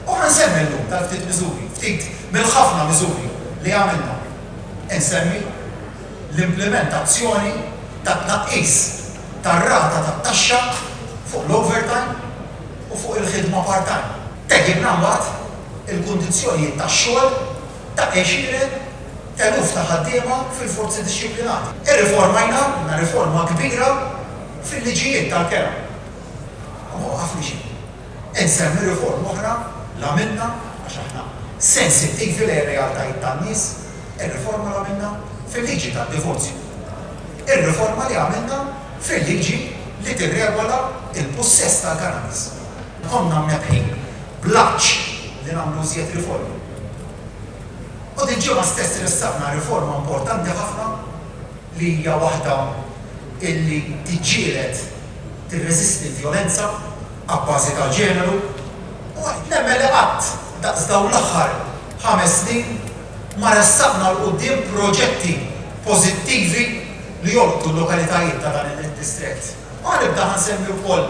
U nsemmi llum dal-ftit miżuri, ftit mill-ħafna miżuri li għamilna. Insemmi l-implimentazzjoni tat-tnaqqis tar-rata tat-taxxa fuq l-overtime u fuq il-ħidma part-time. Tejjibna mbagħad il-kundizzjonijiet tax-xogħol ta' għexieren eluf ta' ħaddiema fil-forzi dixxiplinati. Irriformajna, għamilna riforma kbira fil-liġijiet tal-kera. U ma waqafni xejn. Insemmi riforma oħra li għamilna, għax aħna sensittivi lejn ir-realtajiet tan-nies, ir-riforma li għamilna fil-liġi tad-divorzju. Ir-riforma li għamilna fil-liġi li tirregola l-pussess tal-kannabis. Konna mnebbħin bl-għatx li nagħmlu iżjed riformi. U dil-ġimgħa stess ressaqna riforma importanti ħafna. li hija waħda li tiġġieled, tirreżisti l-vjolenza abbażi tal-ġeneru u għedt nemmen li qatt daqs dawn l-aħħar ħames snin ma ressaqna 'l quddiem proġetti pożittivi li jolqtu l-lokalitajiet ta' dan id-distrett. U ħanibda ħansemmi wkoll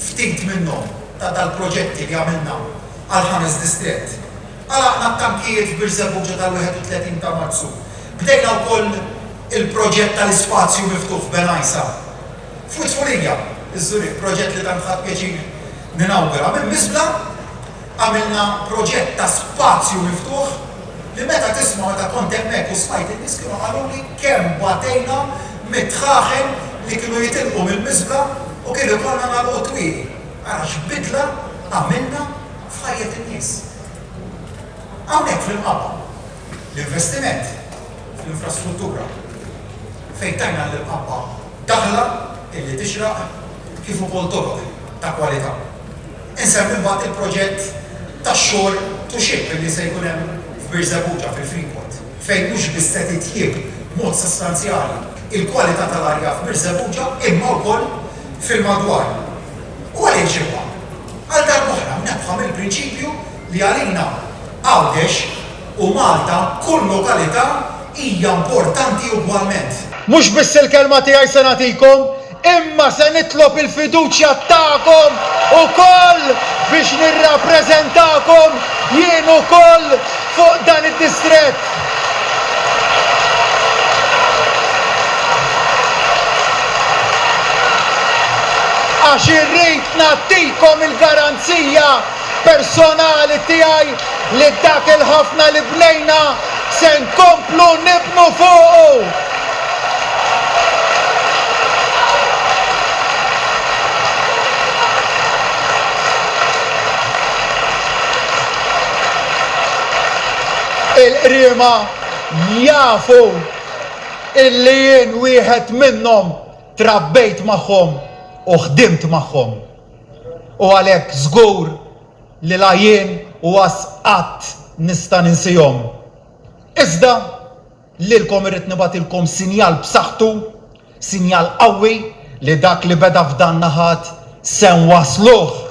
ftit minnhom ta' dal-proġetti li għamilna għall-ħames distrett. Għalaqna t-tankijiet f'Birżebbuġa tal-31 ta' Marzu. Bdejna wkoll il-proġett tal-ispazju miftuħ f'Bengħajsa. F'Witfurija, iż-Żurrieq, proġett li tant ħadt pjaċir ninawgura, minn biżbla għamilna proġett ta' spazju miftuħ li meta tisma' meta kont hemmhekk u smajt in-nies kienu qaluli kemm batejna mit-tħaħen li kienu jitilqu mill-biżbla u kien ikollna nagħlqu t-twieqi. Ara x'bidla għamilna! f'ħajjet in-nies. Hawnhekk fl-Imqabba, l-investiment fl-infrastruttura fejn tajna lill-Imqabba daħla illi tixraq kif ukoll toroq ta' kwalità. Insemmi mbagħad il-proġett tax-shore to ship illi se jkun hemm f'Birżebbuġa fil-Freeport fejn mhux biss se titjieb b'mod sostanzjali l-kwalità tal-arja f'Birżebbuġa imma wkoll fil-madwar. U għaliex imma Għal darb'oħra mnebbħa mill-prinċipju li għalina Għawdex u Malta kull lokalità hija importanti ugwalment. Mhux biss il-kelma tiegħi se nagħtikom, imma se nitlob il-fiduċja tagħkom ukoll biex nirrappreżentakom jien ukoll fuq dan id-distrett. Għax irrid Nagħtikom il-garanzija personali tiegħi li dak il-ħafna li bnejna se nkomplu nibnu fuqu. Il-qriema jafu li jien wieħed minnhom. Trabbejt magħhom u ħdimt magħhom u għalhekk żgur li la jien u għas qatt nista' ninsihom. Iżda, lilkom irrid nibgħatilkom sinjal b'saħħtu, sinjal qawwi li dak li beda f'danna ħadd se nwassluh.